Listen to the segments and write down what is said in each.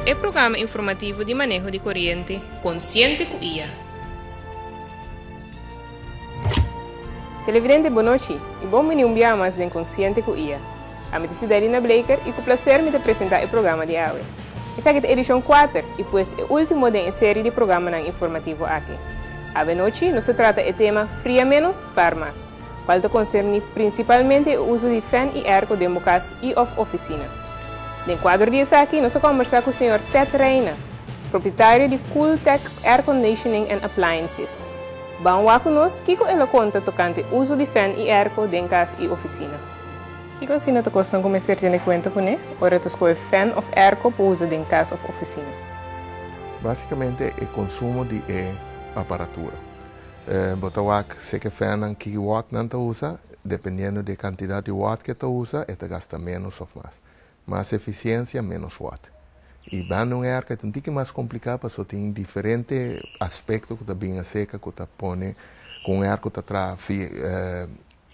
E programa informativo di maneho di coriente Consciente cu iya! Televidente bo nochi y bon bini un biaha mas den Consciente cu iya! A mi ta Sidarina Bleeker y cu placer mi ta presenta e programa di awe. Esaki ta edicion cuater y pues e ultimo den e serie di programanan informativo aki. Awenochi nos ta trata e tema Fria menos, spaar mas, cual ta concerni principalmente e uzo di fan y airco den bo cas y of oficina. Den cuadro di esaki nos a combersa cu señor Ted Reina, propietario di Cooltech Airconditioning and Appliances. Ban wa cu nos kico el a conta tocante uzo di fan y airco den cas y oficina. Kiko asina ta kos nan ku mester tene kuenta kuné ora ta skohe fèn òf èrko pa usa den kas òf ofisina? Básikamente e konsumo di e aparatura. Bo ta wak si ke fènnan ki wòt nan ta usa. Dependiendo di e kantidat di wòt ke ta usa e ta gasta ménos òf mas. Mas efisiensia, ménos wòt. I banda un èrko e ta un tiki mas kompliká paso tin diferente aspekto ku ta bin aserka ku ta pone ku un èrko ta traha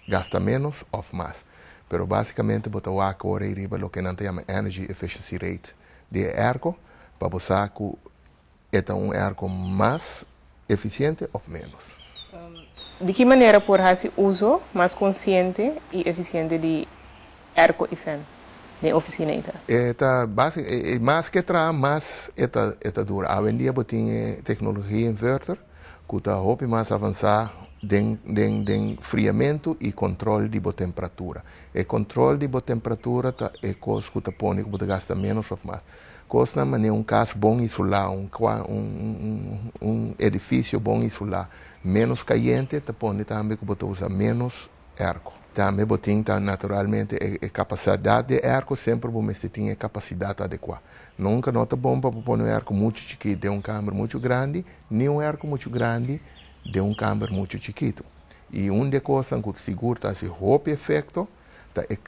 Gasta ménos òf mas. Pero básikamente bo ta wak ora ei riba loke nan ta yama Energy Efficiency Rate di e èrko pa bo sa ku e ta un èrko mas efisiente òf ménos. Di ki manera por hasi uso mas konsiente i efisiente di èrko i fèn den ofisina i kas? E ta básica, mas ke traha mas e ta dura. Awendia bo tin e teknologia inverter ku ta hopi mas avansá den den den friamentu i kòntròl di bo temperatura. E kòntròl di bo temperatura ta e kos ku ta pone ku bo ta gasta ménos òf mas. Kosnan manera un kas bon isulá, un kua, un un un edifisio bon isulá, ménos kayente ta pone tambe ku bo ta usa ménos erko. Tambe bo tin ta naturalmente e kapasadat di e erko, semper bo mester tin e kapasidat adekuá. Nunka no ta bon pa bo pone un erko muchu chikit den un kamber muchu grandi, ni un erko muchu grandi den un kamber muchu chikitu. I un di e kosnan ku sigur ta hasi hopi efekto ta e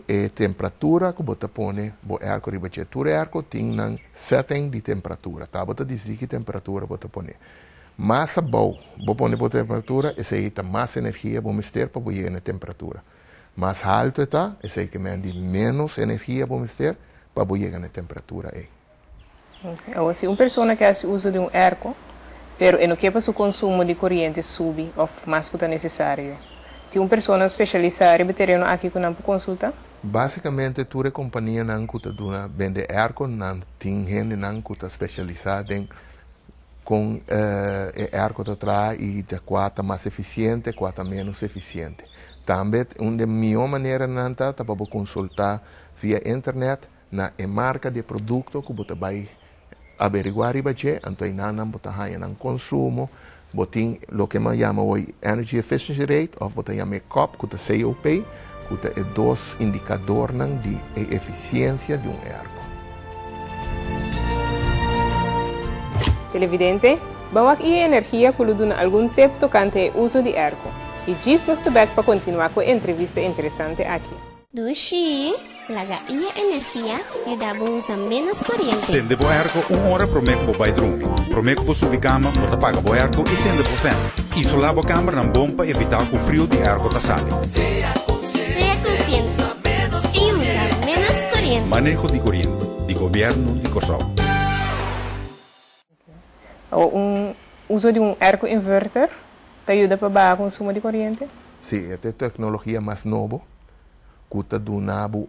e temperatura ku bo ta pone bo erko riba dje. Tur erko tin nan setteng di temperatura. Tabata disdí ki temperatura bo ta pone. Mas abou bo pone bo temperatura, esei ta mas energia bo mester pa bo yega na e temperatura. Mas haltu e ta, esei ke men di ménos energia bo mester pa bo yega na e temperatura ei. Awa, si un persona ke hasi uso di un erko, pero e no ke pa su konsumo di koriente subi òf mas ku ta nesesario, tin un persona speshalisá riba e tereno aki ku nan por konsultá? Básikamente tur e kompanianan ku ta duna bende erko, nan tin hendenan ku ta speshalisá den. Kon e èrko ta traha i ta kua ta mas efisiente, kua ta ménos efisiente. Tambe un den mihó maneranan ta ta pa bo konsultá via internet na e marka di e produkto ku bo ta bai averiguá riba dje, anto einan nan bo ta haña nan konsumo, bo tin loke nan yama hoy energy efficiency rate òf bo ta yam'é kòp ku ta COP. ku ta e dos indikadornan di e efisiensia di un erko. Televidente, Ban wak i e energia ku lo duna algun tep tokante e uso di erko. I djis nos ta bèk pa kontinuá ku e entrevista interesante aki. Dushi! Laga i e energia e da bo usa ménos koriente. Sende bo airco un ora promé cu bo bai drumi. Promé cu bo subi cama, bo ta paga bo airco i sende bo fènt. Isola bo cambernan bon pa evitá cu frio di airco ta sali. Sea consciente i usa ménos koriente. Maneho di Koriente di Gobièrnu di Kòrsou. Un uso di un erko inverter ta yuda pa baha konsumo di koriente? Sí, e ta e teknologia mas nobo ku ta duna bo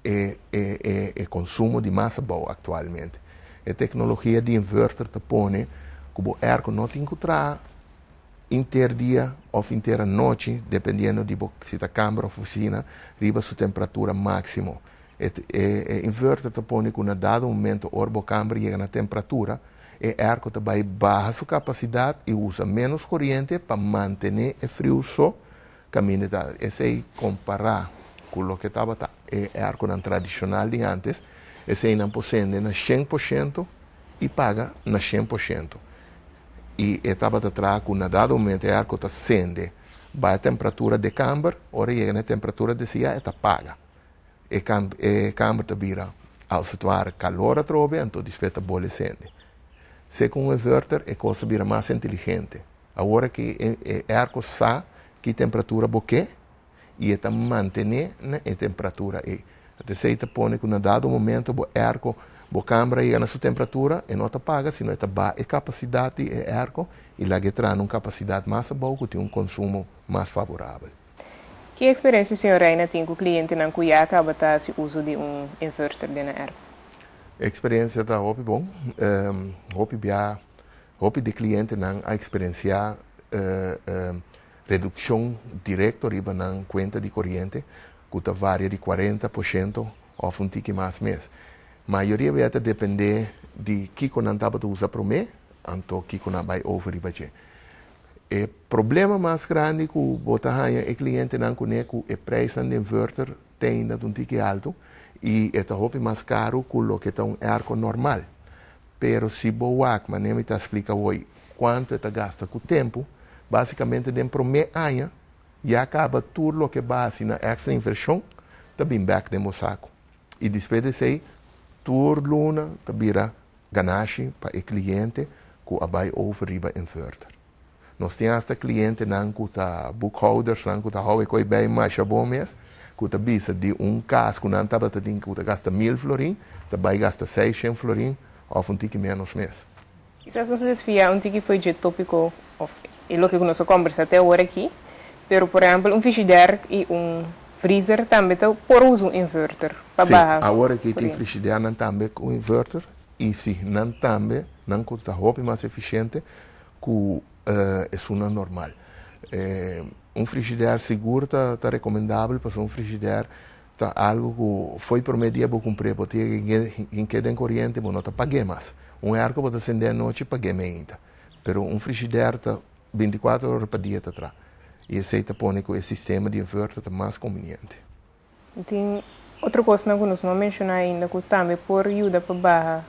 e konsumo di mas abou aktualmente. E teknologia di inverter ta pone ku bo erko no tin ku traha inter dia òf inter anochi, dependiendo di bo si ta kamber òf hosina, riba su temperatura máksimo. E e inverter ta pone cu na dado momento ora bo camber yega na temperatura, e airco ta bay baha su capacidad y usa menos coriente pa mantene e friu so caminda e ta esey compara cu loke tabata e airconan tradicional di antes, eseynan por cende na shen por ciento y paga na shen por ciento. Y e tabata traha cu na dado momento e airco ta cende bay temperatura de camber, ora yega na e temperatura desea e ta paga. e e kamer ta bira als het ware kalor atrobe, anto di spet ta bole sende. Se ku un inverter e kos ta bira mas inteligente. Awor ki e airco sa ki temperatura bo ke i e ta mantené na e temperatura ei. Ata esei ta pone ku na dado momento bo airco, bo kamer a yega na su temperatura, e no ta paga sino e ta ba e kapasidat di e airco i laga e traha na un kapasidat mas abou ku tin un konsumo mas favorabel. Ki eksperensia ku señor Reina tin ku klientenan ku ya a kaba ta hasi uso di un inverter den nan erf? Eksperensia ta hopi bon. Hopi bia, hopi di klientenan a eksperensiá redukshon direkto riba nan kuenta di koriente ku ta varia di kuarenta por shento òf un tiki mas mes. Mayoria bia ta dependé di kiko nan tabata usa promé, anto kiko nan a bai over riba dje. E problema mas grandi ku bo ta haña e klientenan kuné ku e preisnan den Vurter ten dat un tiki altu i e ta hopi mas karu ku loke ta un airco normal. Pero si bo wak manera mi ta splika woi kuantu e ta gasta ku tempu, basikamente den promé aña ya kaba tur loke basi na extra invershon ta bin bek den bo saku. I despues di esei tur luna ta bira ganashi pa e kliente ku a bai over riba inverter. Nos tin hasta klientenan ku ta boekhoudersnan ku ta hou e kos bai masha bon mes ku ta bisa di un kas ku nan tabata tin ku ta gasta mil florin ta bai gasta seis shen florin òf un tiki ménos mes. Kisas nos a desfia un tiki fo'i dje tópiko òf e loke ku nos a kòmbersá te awor aki, pero por ehèmpel un frishider i un freezer tambe ta por usa un inverter pa baha korienti. Sí, awor aki tin frishidernan tambe ku inverter i sí, nan tambe, nan ku ta hopi mas efisiente ku esunnan normal. Un frishider sigur ta rekomendabel pasobra un frishider Ta algu ku fo'i promé dia bo kumpr'é, bo ta yega hink'é den koriente, bo no ta pag'é mas. Un airko bo ta send'é anochi, pag'é meinta. Pero un frishidèr ta bintikuater ora pa dia ta tra, i esei ta pone ku e sistema di inverter ta mas konviniente. Tin otro kosnan ku nos no a menshoná ainda ku tambe por yuda pa baha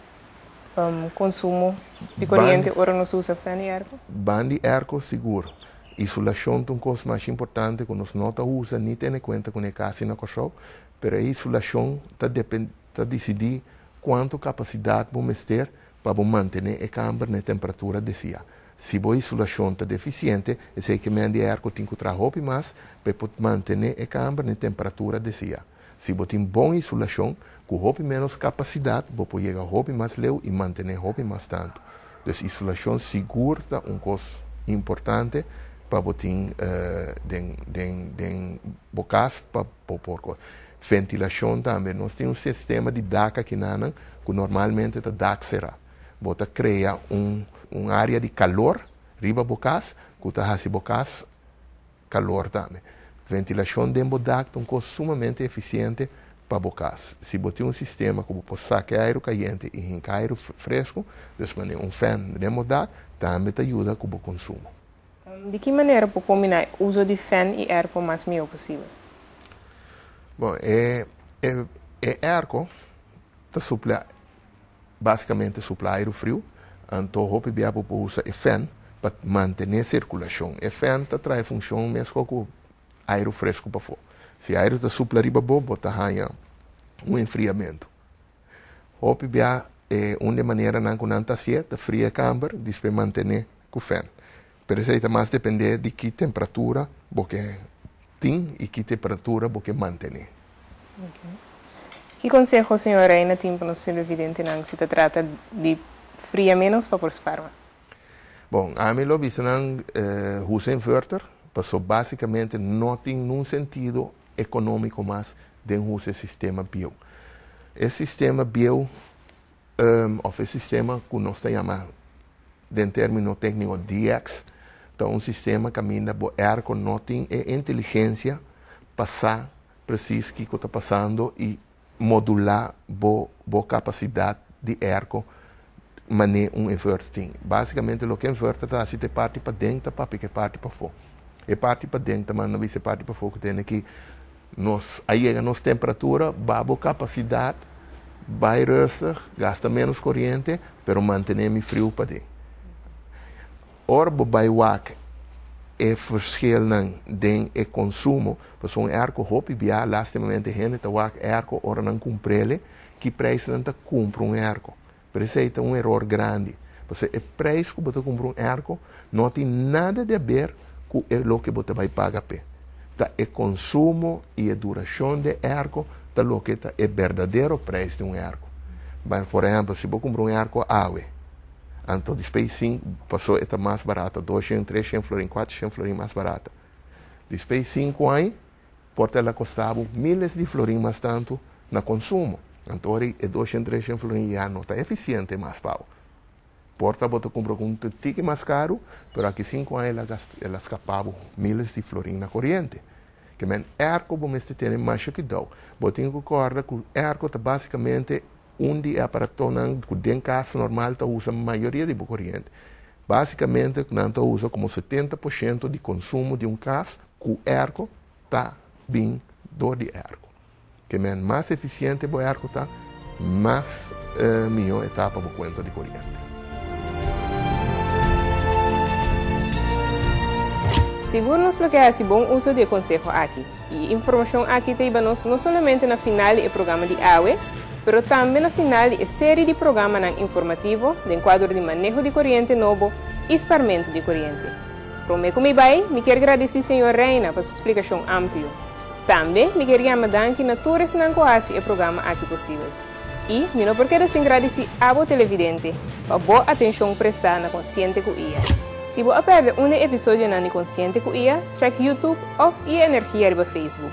konsumo di koriente ora nos usa fen di airco? Ban di airco sigur. Isulashon ta un kos mas importante ku nos no ta usa ni tene kuenta ku ne kasi na Kòrsou, pero e isulashon ta depende ta disidí kuantu kapasidat bo mester pa bo mantené e kamber na e temperatura desiá. Si bo isulashon ta defisiente, esei ke men di airco tin ku traha hopi mas pa e por mantené e kamber na e temperatura desiá. Si bo tin bon isulashon, ku hopi ménos kapasidat bo por yega hopi mas leu i mantené hopi mas tantu. Dus isulashon sigur ta un kos importante pa bo tin den bo kas pa bo por kos. Ventilashon tambe. Nos tin un sistema di dak akinanan ku normalmente ta dak será. Bo ta krea un área di kalor riba bo kas ku ta hasi bo kas. kalor tambe. Ventilashon den bo dak ta un kos sumamente efisiente pa bo kas. Si bo tin un sistema ku bo por saka e airu kayente i hinka airu fresku, dus manera un fèn den bo dak tambe ta yuda ku bo konsumo. Di ki manera por kombiná e uso di fèn i èrko mas mihó posibel? Bon, e èrko ta suplá. básikamente suplá airu friu, anto hopi bia bo por usa e fèn pa mantené sirkulashon. E fèn ta traha e funshon mesku ku airu fresku pafó. Si airu ta supla riba bo, bo ta haña un enfriamentu. Hopi bia e un di e maneranan ku nan ta hasié ta fria e kamber, dispé mantené ku fèn. Pero esei ta mas dependé di ki temperatura bo ke tin i ki temperatura bo ke mantené. Ok. Ki konseho señor Reina tin pa nos televidentenan si ta trata di fria ménos pa por spar mas? Bon, ami lo bisa nan usa inverter paso basikamente no tin nun sentido ekonómiko mas den usa e sistema bieu. E sistema bieu òf e sistema ku nos ta yama den término tékniko DX, ta un sistema kaminda bo airco no tin e inteligencia pa sa presis kiko ta pasando i modulá bo bo kapasidad di airco man'é un inverter tin. Básikamente loke inverter ta hasi ta e parti paden ta papia ku e parti pafó. E parti paden ta manda bisa e parti pafó ku tene ki. Nos a yega nos temperatura babo capacidad, bay rustig, gasta menos coriente, pero mantene mi friu paden. Ora bo bay wak e verschilnan den e consumo, pasobra un airco hopi biaha, lastimamente hende ta wak airco ora nan cumprele, ki prijs nan ta cumpra un airco? Pero esei ta un eror grandi, pasobra e preis ku bo ta kumpra un èrko no a tin nada di aber ku e loke bo ta bai paga p'e. Ta e konsumo i e durashon di e èrko ta loke ta e berdadero preis di un èrko. Bai, por ehèmpel, si bo kumpra un èrko awe, anto dispei di sinku, pasó e ta mas barata, dos shen, tres shen florin, kuater shen florin mas barata. Dispei di sinku ai, Por ta la kosta bo miles di florin mas tantu na konsumo. Anto ora e doshen treshen florin ya no ta efisiente mas pa bo. Por ta bo ta kumpra ku un tiki mas karu, pero aki sinku aña el a skapa bo miles di florin na koriente. Ke men èrko bo mester tene masha kidou. Bo tin ku kòrda ku èrko ta básikamente un di e aparatonan ku den kas normal ta usa mayoria di bo koriente. Básikamente nan ta usa komo setenta por shento di konsumo di un kas. Ku erko ta bin dor di e erko. Ke men mas efisiente bo erko ta, mas mihó e ta pa bo kuenta di koriente. Sigur nos lo ke hasi bon uso di e konseho aki. I e informashon aki ta iba nos no solamente na final di e programa di awe, pero tambe na final di e seri di programanan informativo den kuadro di Maneho di Koriente Nobo i Sparmentu di Koriente. Promé ku mi bai, mi kier gradisí señor Reina pa su splikashon amplio. Tambe mi kier yama danki na tur esnan ku hasi e programa aki posibel. I mi no por keda sin gradisí abo televidente pa bo atenshon prestá na Konsiente ku Iya. Si bo a pèrdè un di e episodionan di Konsiente ku Iya, chèk YouTube òf Iya Energia riba Facebook.